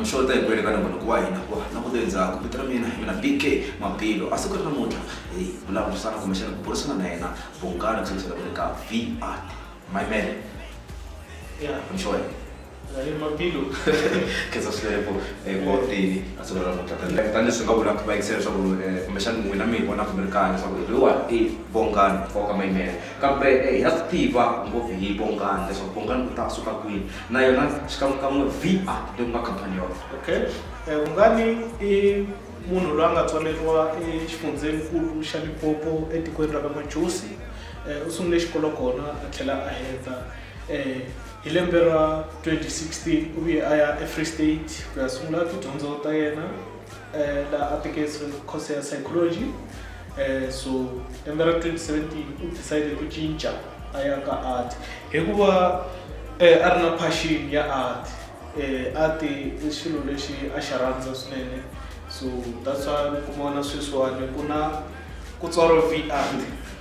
namuxota hi ku yeleka na munhu ku wa hina wa na kuto endzhaku vito ra mina hi mina bk mabilo a siku ri namuntlha hi vulavurisana kumbexana ku burisana na yena vungana ku sekisela ku le ka vr my man ya mshoya khensa swilepo wa tini a tsolo ra mutata like tanileswi ni nga vulaka va yingisela leswaku kumbexani n'wina mi hi vonaka mi ri kahle leswaku lowa i vongani wa ka mayimela kambe hi ya swi tiva ngopfu hi vongani leswaku vongani ku ta suka kwini na yona xikan'wekan'we va leyi ku nga khampani yona okay vungani i munhu loyi a nga tswaleriwa exifundzhenikulu xa lipopo etikweni ra ka majosi u sungule xikolo kona a tlhela a heta um Hi lembe ra 2016 u vuye a ya eFree State ku ya sungula tidyondzo ta yena eh, laha a teke course ya psychology eh, so lembe ra 2017 u decide ku cinca a ya ka art hikuva eh, a ri na passion ya art eh, art i xilo lexi a xi rhandza swinene so that's why mi kuma na sweswiwani ku na ku tswaro v art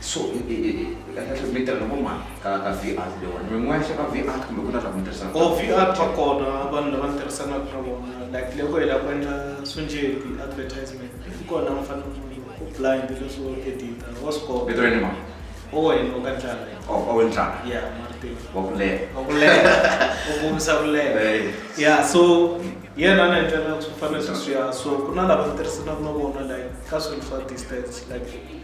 So i i i kahlekahle mi tirha na vo mani ka ka Vr leyiwani mi n'wexe ka Vr kumbe ku na lava mi tirhisanaka na vona? Vr va kona vanhu lava ni tirhisanaka na vona like loko hi lava ku endla swo njhe ti-advertisement if ku ri laha mi fanele mi u blind leswo edit-a wa swi kota. Vito ra yena i mani? Owen wa ka Ndlala yena. Oh Owen Ndlala. Yeah Martin. Wa ku leha. Wa ku leha u kombisa ku leha. Yeah so hi yena a ni endlela swo fana na sweswiya so ku na lava ni tirhisanaka na vona like ka swilo swa distance like.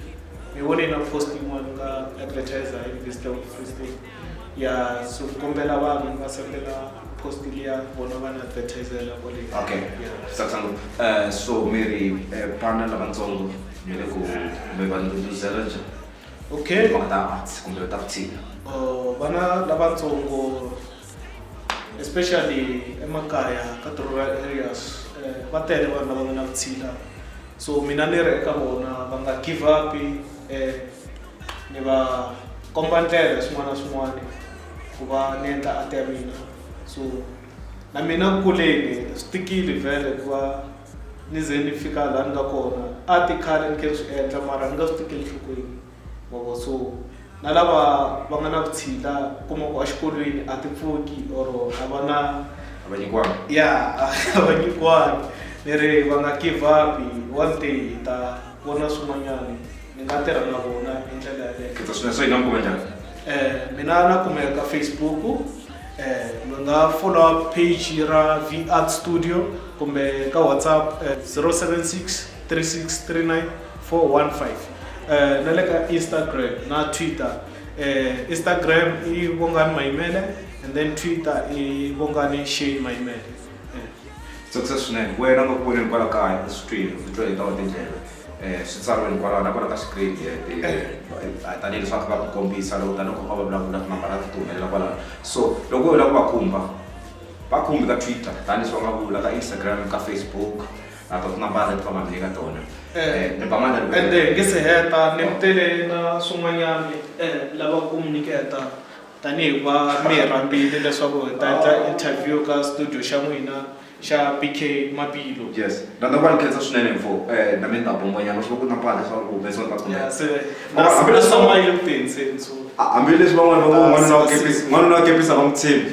hi vone na post yin'wana ka advertiser hi visitor of free state ya so kombela vanhu va sendela post liya vona va na advertisela kwale okay satsanga uh, eh, so mi ri uh, eh, pana lavatsongo mi le ku mi va nduduzela njhani okay mhaka ta arts kumbe ta vutshila uh, vana lavatsongo especially emakaya ka ti-rural areas eh, va tele vanhu lava nga na vutshila so mina ni ri eka vona va nga give up eh, ni va komba ndlela swin'wana na swin'wana ku va ni endla ati ya mina so na mina ku kuleni swi tikile vhele ku va ni ze ni fika laha ni nga kona a ti khale ni khe ni swi endla mara ni nga swi tikeli nhlokweni mavona so na lava va nga na vutshila kuma ku exikolweni a ti pfuki or a va na a va nyikiwanga ya a va nyikiwanga ni ri va nga give up one day hi ta vona swin'wanyana ni nga tirha na vona hi ndlela yaleyo khetha swinene so hi nga mi kuma njhani eh mina na kumeka ka facebook eh mi nga follow up page ra v art studio kumbe ka whatsapp eh, 076 3639 415 eh na le ka Instagram na Twitter eh Instagram i Bongani Maimele and then Twitter i Bongani Shane Maimele eh tsakisa swinene wena nga ku voneni kwala kaya eswitwini vito hi tawa tindlela um swi tsariweni kwalaho na kwala ka screen tanihi leswaku va ku kombisa loko tanihi ku va va vulavula tinambara ti humelela kwalaho so loko u lava ku va khumba va khumbi ka twitter tanihi leswi va nga vula ka instagram ka facebook a ku na bala leti va nga mi nyika tona Eh, ni ba mali and then nge se heta ni tele na swin'wanyana eh, lava ku mi nyiketa tanihi va mi hi rhambile leswaku hi ta endla interview ka studio xa n'wina xa bk mapilo yes na na va ni khensa swinene mfo eh na mi nga bombonyana swi va ku na bala leswaku ku humesa va kumbe Ya, se Oh, na- hambi na leswi- swamayo ku tenseni so hambileswi van'wana va ngo Ah, n'wanuna wa se- kepisa n'wanuna wa kepisa va n'wi tshembi